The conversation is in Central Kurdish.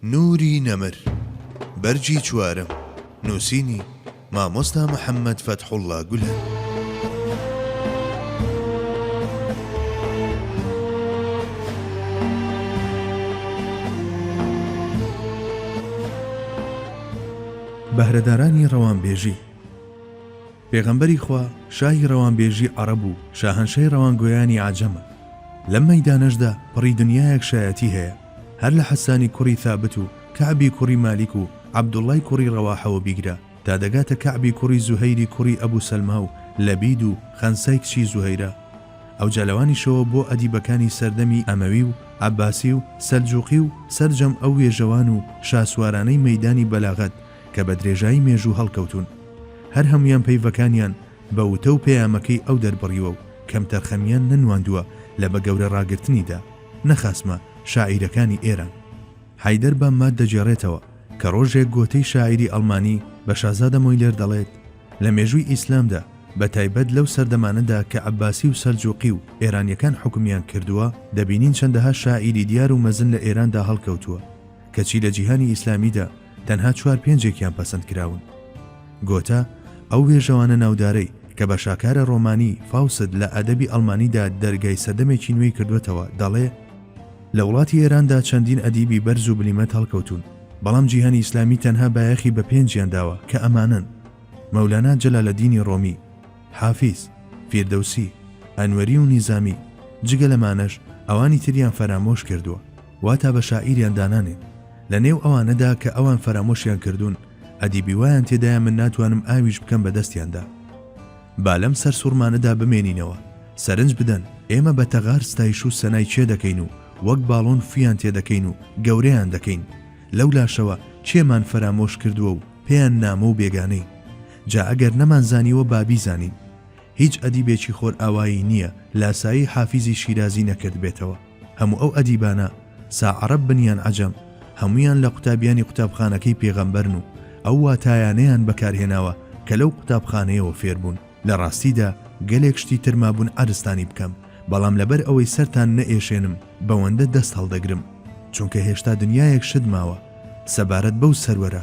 نوری نەمر، بەرگی چوارەم، نووسینی، مامۆستا محەممەد فەتحوڵڵا گولەن. بەهرەدارانی ڕەوانبێژی پێغەمبەری خوا شاهی ڕەوانبێژی عەڕەب و شاهەنشەی ڕەوانگۆیانی عەجەمە، لەم مەیدانەشدا پڕی دنیایەک شایەتی هەیە، هەر لە حەسانی کوڕی ثابت و کەعبی کوڕی مالیک و عەبدوڵڵای کوڕی ڕەواحەوە بیگرە تا دەگاتە کەعبی کوڕی زوهەیری کوڕی ئەبو سەلما و لەبید و خەنسای کچی زوهەیرە ئەوجا لەوانیشەوە بۆ ئەدیبەکانی سەردەمی ئەمەوی و عەباسی و سەلجوقی و سەرجەم ئەو وێژەوان و شاسوارانەی مەیدانی بەلاغەت کە بە درێژایی مێژوو هەڵکەوتوون هەر هەموویان پەیڤەکانیان بە وتە و پەیامەکەی ئەو دەربڕیوە و کەمتەرخەمیان نەنواندووە لە بە گەورە ڕاگرتنیدا. نەخاسمە شاعیرەکانی ئێران. حەیدەر بامماد دەگێڕێتەوە کە ڕۆژێک گۆتەی شاعیری ئەڵمانی بە شازادە مۆیلێر دەڵێت، لە مێژووی ئیسلامدا، بە تایبەت لەو سەردەمانەدا کە عەبباسی و سەلجووقی و ئێرانییەکان حوکمیان کردووە، دەبینین چەندەها شاعیری دیار و مەزن لە ئێراندا هەڵکەوتووە، کەچی لە جیهانی ئیسلامیدا، تەنها چوار پێنجێکیان پەسەند کراون. گۆتە، ئەو وێژەوانە ناودارەی، کە بە شاکارە ڕۆمانی، فاوست، لە ئەدەبی ئەڵمانیدا دەرگای سەردەمێکی نوێی کردووەتەوە، دەڵێ، لە وڵاتی ئێراندا چەندین ئەدیبی بەرز و بلیمەت هەڵکەوتوون، بەڵام جیهانی ئیسلامی تەنها بایەخی بە پێنجیان داوە، کە ئەمانەن، مەولانا جەلالەدینی ڕۆمی، حافیز، فیردەوسی، ئەنوەری و نیزامی، جگە لەمانەش ئەوانی تریان فەرامۆش کردووە. واتا بە شاعیریان دانانێن لە نێو ئەوانەدا کە ئەوان فەرامۆشیان کردوون ئەدیبی وایان تێدایە من ناتوانم ئاویش بکەم بە دەستیاندا با لەم سەر سوڕمانەدا بمێنینەوە سەرنج بدەن ئێمە بە تەغار ستایش و سەنای چێ دەکەین و وەک باڵۆن فیان تێ دەکەین و گەورەیان دەکەین لەو لاشەوە کێمان فەرامۆش کردووە و پێیان نامۆ و بێگانەی جا ئەگەر نەمان زانیوە بابی زانین هیچ ئەدیبێکی خۆر ئاوایی نییە لاسایی حافیزی شیرازی نەکرد بێتەوە هەموو ئەو ئەدیبانە سا عەرەب بن یان عەجەم هەموویان لە قوتابیانی قوتابخانەکەی پێغەمبەرن و ئەو واتایانەیان بەکارهێناوە کە لەو قوتابخانەیەوە فێربوون، لە ڕاستیدا گەلێک شتی تر مابوون عەرزتانی بکەم، بەڵام لەبەر ئەوەی سەرتان نەئێشێنم بەوەندە دەست هەڵدەگرم، چونکە هێشتا دنیایەک شت ماوە سەبارەت بەو سەروەرە.